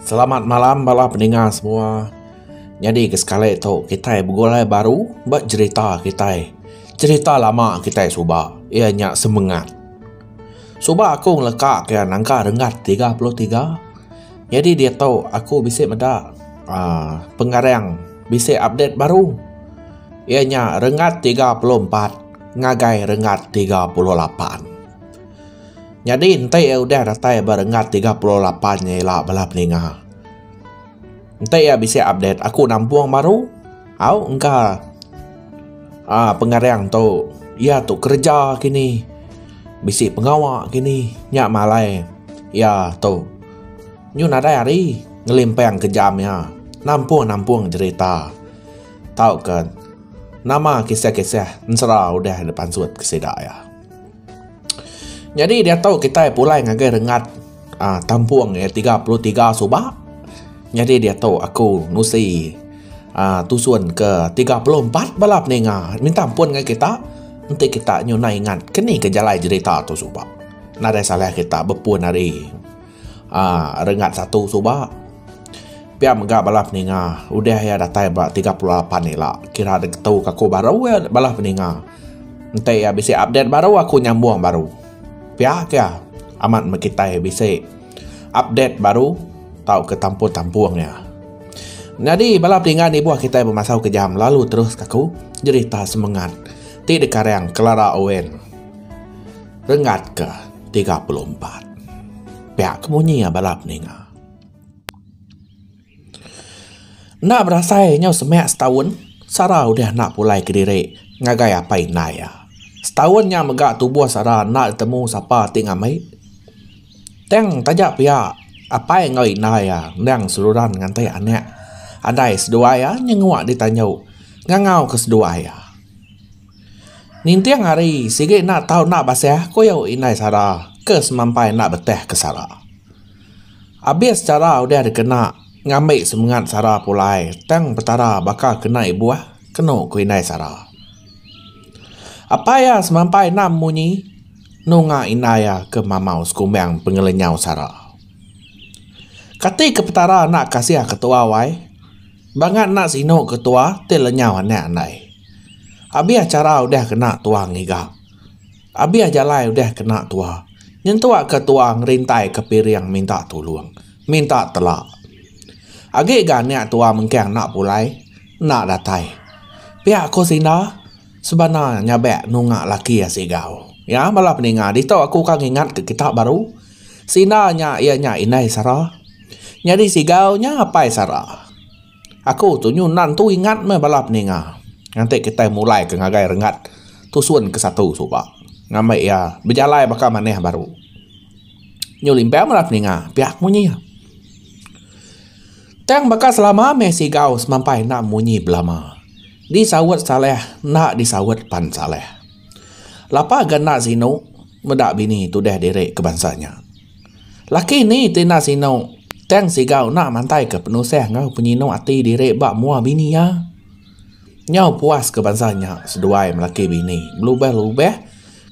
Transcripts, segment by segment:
Selamat malam bala peninga semua. Nyadi ke sekali tu kita begulai baru ba cerita kita. Cerita lama kita suba ia nya semengat. Suba aku ngeleka ke nangka renggat 33. Nyadi diatu aku bisi meda uhh pengarang bisi update baru iya nya rengat tiga puluh empat ngagai rengat tiga puluh lapan. Nyadi enti iya udah datai ba rengat tiga puluh lapan nya ila bala ninga enti iya bisi update aku nampung baru. Au engka ah pengarang tu. Iya tu kereja kini. Bisi pengawa kini nya malai iya tu. Nyu nadai hari ngelimpang ke jam iya nampung-nampung jerita tauka nama kisah-kisah ensera udah dipansut ke sida iya. Nyadi diatu kitai pulai ngagai rengat aaa tampung iya tiga puluh tiga suba. Nyadi diatu aku nusi aaa tusun ke tiga puluh empat bala peninga minta ampun ngagai kita enti kita nyunai ingat ke ni ke jalai jerita tu suba. Nadai salah kita bepun ari aaa rengat satu suba. Pia mega bala peninga udah iya datai ba tiga puluh lapan ila kira diketuka aku baru iya bala peninga. Enti iya bisi update baru aku nyambung baru. Pia ke iya amat meh kitai bisi update baru tauka tampung-tampung iya. Nyadi bala pinggan ibuh kitai bemasau kejam lalu terus ka aku nyerita semengat ti dikareng Clara Owen renggat ke tiga puluh empat. Pia ke munyi iya bala peninga. Enda berasai nyau semak setaun Sara udah enda pulai kediri ngagai apai indai iya. Setaun nya mega tubuh Sara enda betemu sapa ti ngambi. Tang taja pia apai enggau indai iya endang seruran nganti anak andai seduai iya nyengua ditanjau ngangau ke seduai iya. Ninting hari sigi enda tau enda basah ku indai Sara ke semampai enda betah ke Sara. Abis chara udah dikena ngambi semengat sara pulai tang petara baka ke nai buah kenu ku indai sara. Apai iya semampai enam munyi nunga indai iya ke mamau sekumbang pengelenyau sara. Kati ke petara enda kasih ketua wai bangat enda sinu ketua ti lenyau anak andai. Abis chara udah kena tua ngiga. Abih jalai udah kena tua. Nyentuk ke tua ngerintai ke piring minta tulung. Minta telak. Agi ga anak tua mengkang enda pulai, enda datai. Pia ko Sinda, sebana nyabak nunga laki iya sigau. Ya bala peninga ditu aku ka ngingat ke kita baru. Sinda nya iya nya indai sara. Nyadi sigau nya apai sara. Aku tu nyu nan tu ingat meh bala peninga nganti kitai mulai ke ngagai rengat tusun ke satu suba ngambi iya bejalai baka manah baru. Nyu limpang bala peninga pia ku munyi iya. Tang baka selama meh sigau semampai enda munyi belama. Disaut Saleh enda disaut pan Saleh. Lapa ga enda sinu meda bini tudah diri ke bansa nya. Laki ni ti enda sinu tang siga enda mantaika penusah enggau penyinu ati diri ba mua bini iya. Nyau puaska bansa nya seduai melaki bini belubah-lubah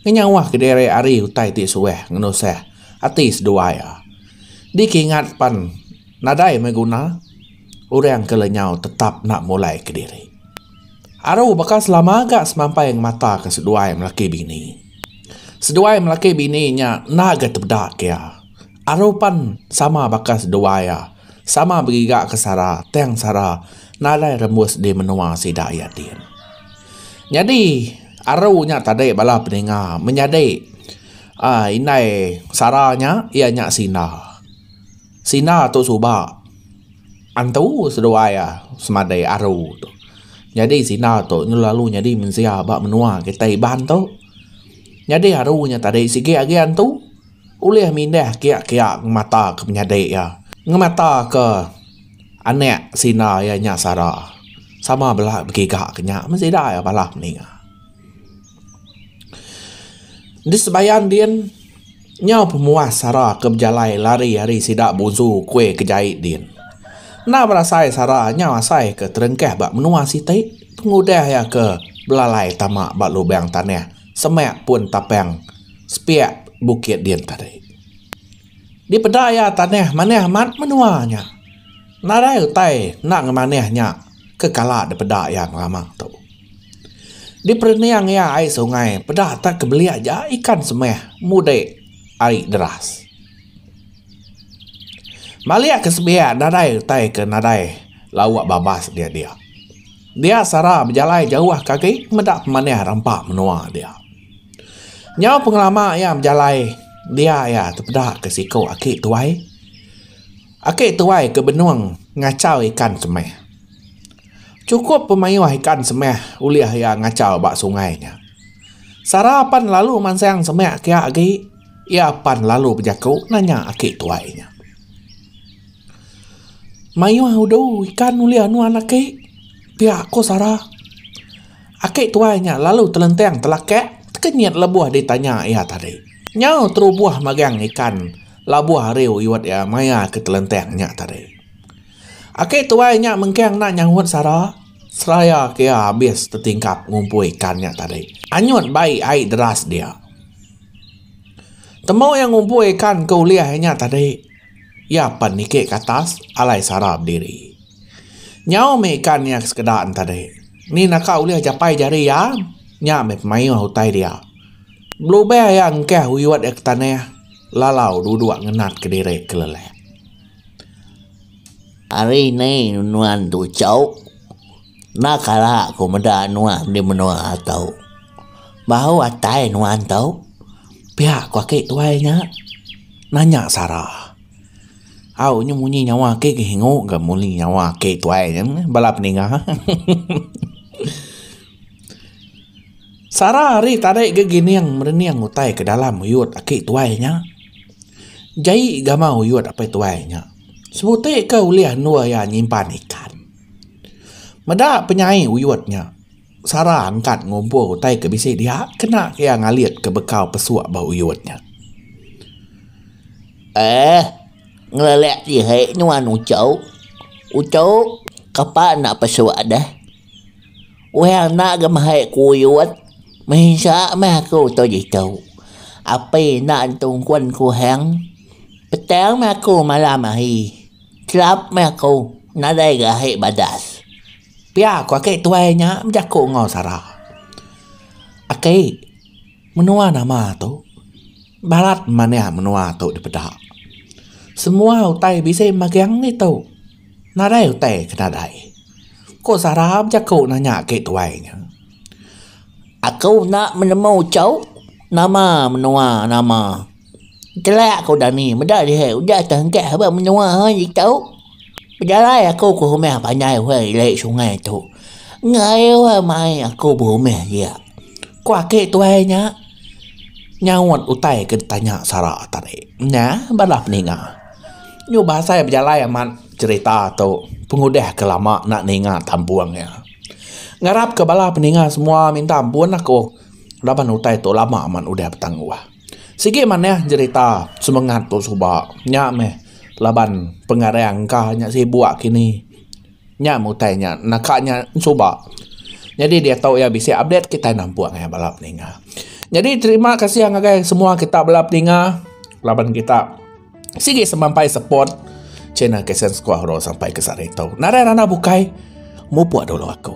ngenyauhka diri ari utai ti suah ngenusah ati seduai iya. Dikingat pan nadai meh guna orang ke lenyau tetap enda mulaika diri. Aru baka selama ga semampai ngemataka seduai melaki bini. Seduai melaki bini nya enda agei tebeda ke iya. Aru pan sama baka seduai iya, sama begiga ke Sara tang Sara nadai rembus di menua sida iya din. Nyadi aru nya tadi bala peninga menyadi aaa indai Sara nya iya nya Sinda. Sina tu suba antu seduai a semadai aru tu. Nyadi sina tu lalu nyadi mensia ba menua kitai Iban tu. Nyadi aru nya tadi sigi agi antu ulih mindah kiak kiak ngemata ke penyadi iya. Ngemata ke anak sina iya nya sara sama bela begiga ke nya meh sida iya balah ninga. Di sebayang din, nyau pemuas sara ke bejalai lari ari sida buzu kuih ke jai din. Enda berasai sara nyau asai ke terengkah ba menua siti pengudah iya ke belalai tama ba lubang tanah semak pun tapang sepiak bukit din tadi. Dipeda iya tanah manah amat menua nya. Nadai utai enda ngemanih nya ke kala dipeda iya ngelama tu. Diperening iya ai sungai peda tak kebelik ja ikan semeh mudik ari deras. Malik ke sebiak nadai utai ke nadai lawa babas dia dia. Dia sara bejalai jauh ke agi meda pemanih rampa menua dia. Nyau pengelama iya bejalai dia iya tepeda ke siko aki tuai. Aki tuai ke benung ngachau ikan semeh. Chukup pemayuh ikan semeh ulih iya ngachau ba sungai nya. Sara pan lalu mansang semeh kiya agi, iya pan lalu bejaku nanya aki tuai nya. Mayuh udu ikan ulih nuan aki? pia ku Sara. Aki tuai nya lalu telentang telakak tekenyit lebuh ditanya iya tadi. Nyau terubuh magang ikan labuh ari uyut iya maya ke telentang nya tadi. Aki tuai nya mengkang enda nyaut sara, seraya ke iya habis tetingkap ngumpul ikan nya tadi. Anyut bai ai deras dia. Temu iya ngumpul ikan ke ulih ai nya tadi, iya pen niki ke atas alai sara bediri. Nyau mih ikan iya sekeda nya tadi. Ni naka ulih japai jari iya, nya mih pemayuh utai dia. Belubeh iya engkah uyut iya ke tanah lalau duduk ngenat kediri kelelek. Ari ni nuan tu chau enda kala ku meda nuan di menua tau bahu atai nuan tau pia ku aki tuai nya nanya sara au nyu munyi nyawa aki ke hingu ga munyi nyawa aki tuai nya bala peninga. Sara ari tadai ga gining merening utai ke dalam uyut aki tuai nya. Jai gama uyut apai tuai nya. Sebuti ke ulih endur iya nyimpan ikan. Meda penyai uyut nya, Sara engkat ngumpul utai ke bisi dia kena iya ngalit ke bekau pesuk ba uyut nya. Eeh, ngelelek diri nuan uchu. Uchu, kapa enda pesuk deh. Weh enda ga mehai kuyut mensia meh aku tu ditu api enda entung kun ku hang petang meh aku malam hari chelap meh aku nadai ga ahi badas pia ku aki tuai nya bejaku enggau sara aki menua nama tu barat mania menua tu dipeda semua utai bisi magang ditu. Nadai utai ke nadai. Ko Sara bejaku nanya aki tuai nya. Aku enda menemu chau nama menua nama. Telak ko Dani meda dihe udah tengkah ba menua hai ditu. Pejalai aku ke rumah panjai weh ili sungai tu. Engaie weh mai aku berumah ia. Ko aki tuai nya nyaut utai ke ditanya Sara tadi. Nya bala peninga. Nyuh bahasa iya bejalai amat cerita tu pengudah ke lama enda ninga tampung iya. Ngarap ke bala peninga semua minta ampun aku laban utai tu lama amat udah betanggah. Sigi manah jerita semengat tu suba nya meh laban pengarang ka nya sibuk kini. Nya mutai nya naka nya suba nyadi diatu iya bisi update kitai nampung iya bala peninga. Nyadi terima kasih ngagai semua kita bala peninga laban kita sigi semampai support channel KSense Kuah Oro sampai ke sehari tu. Nadai randau bukai mupuk dulu aku.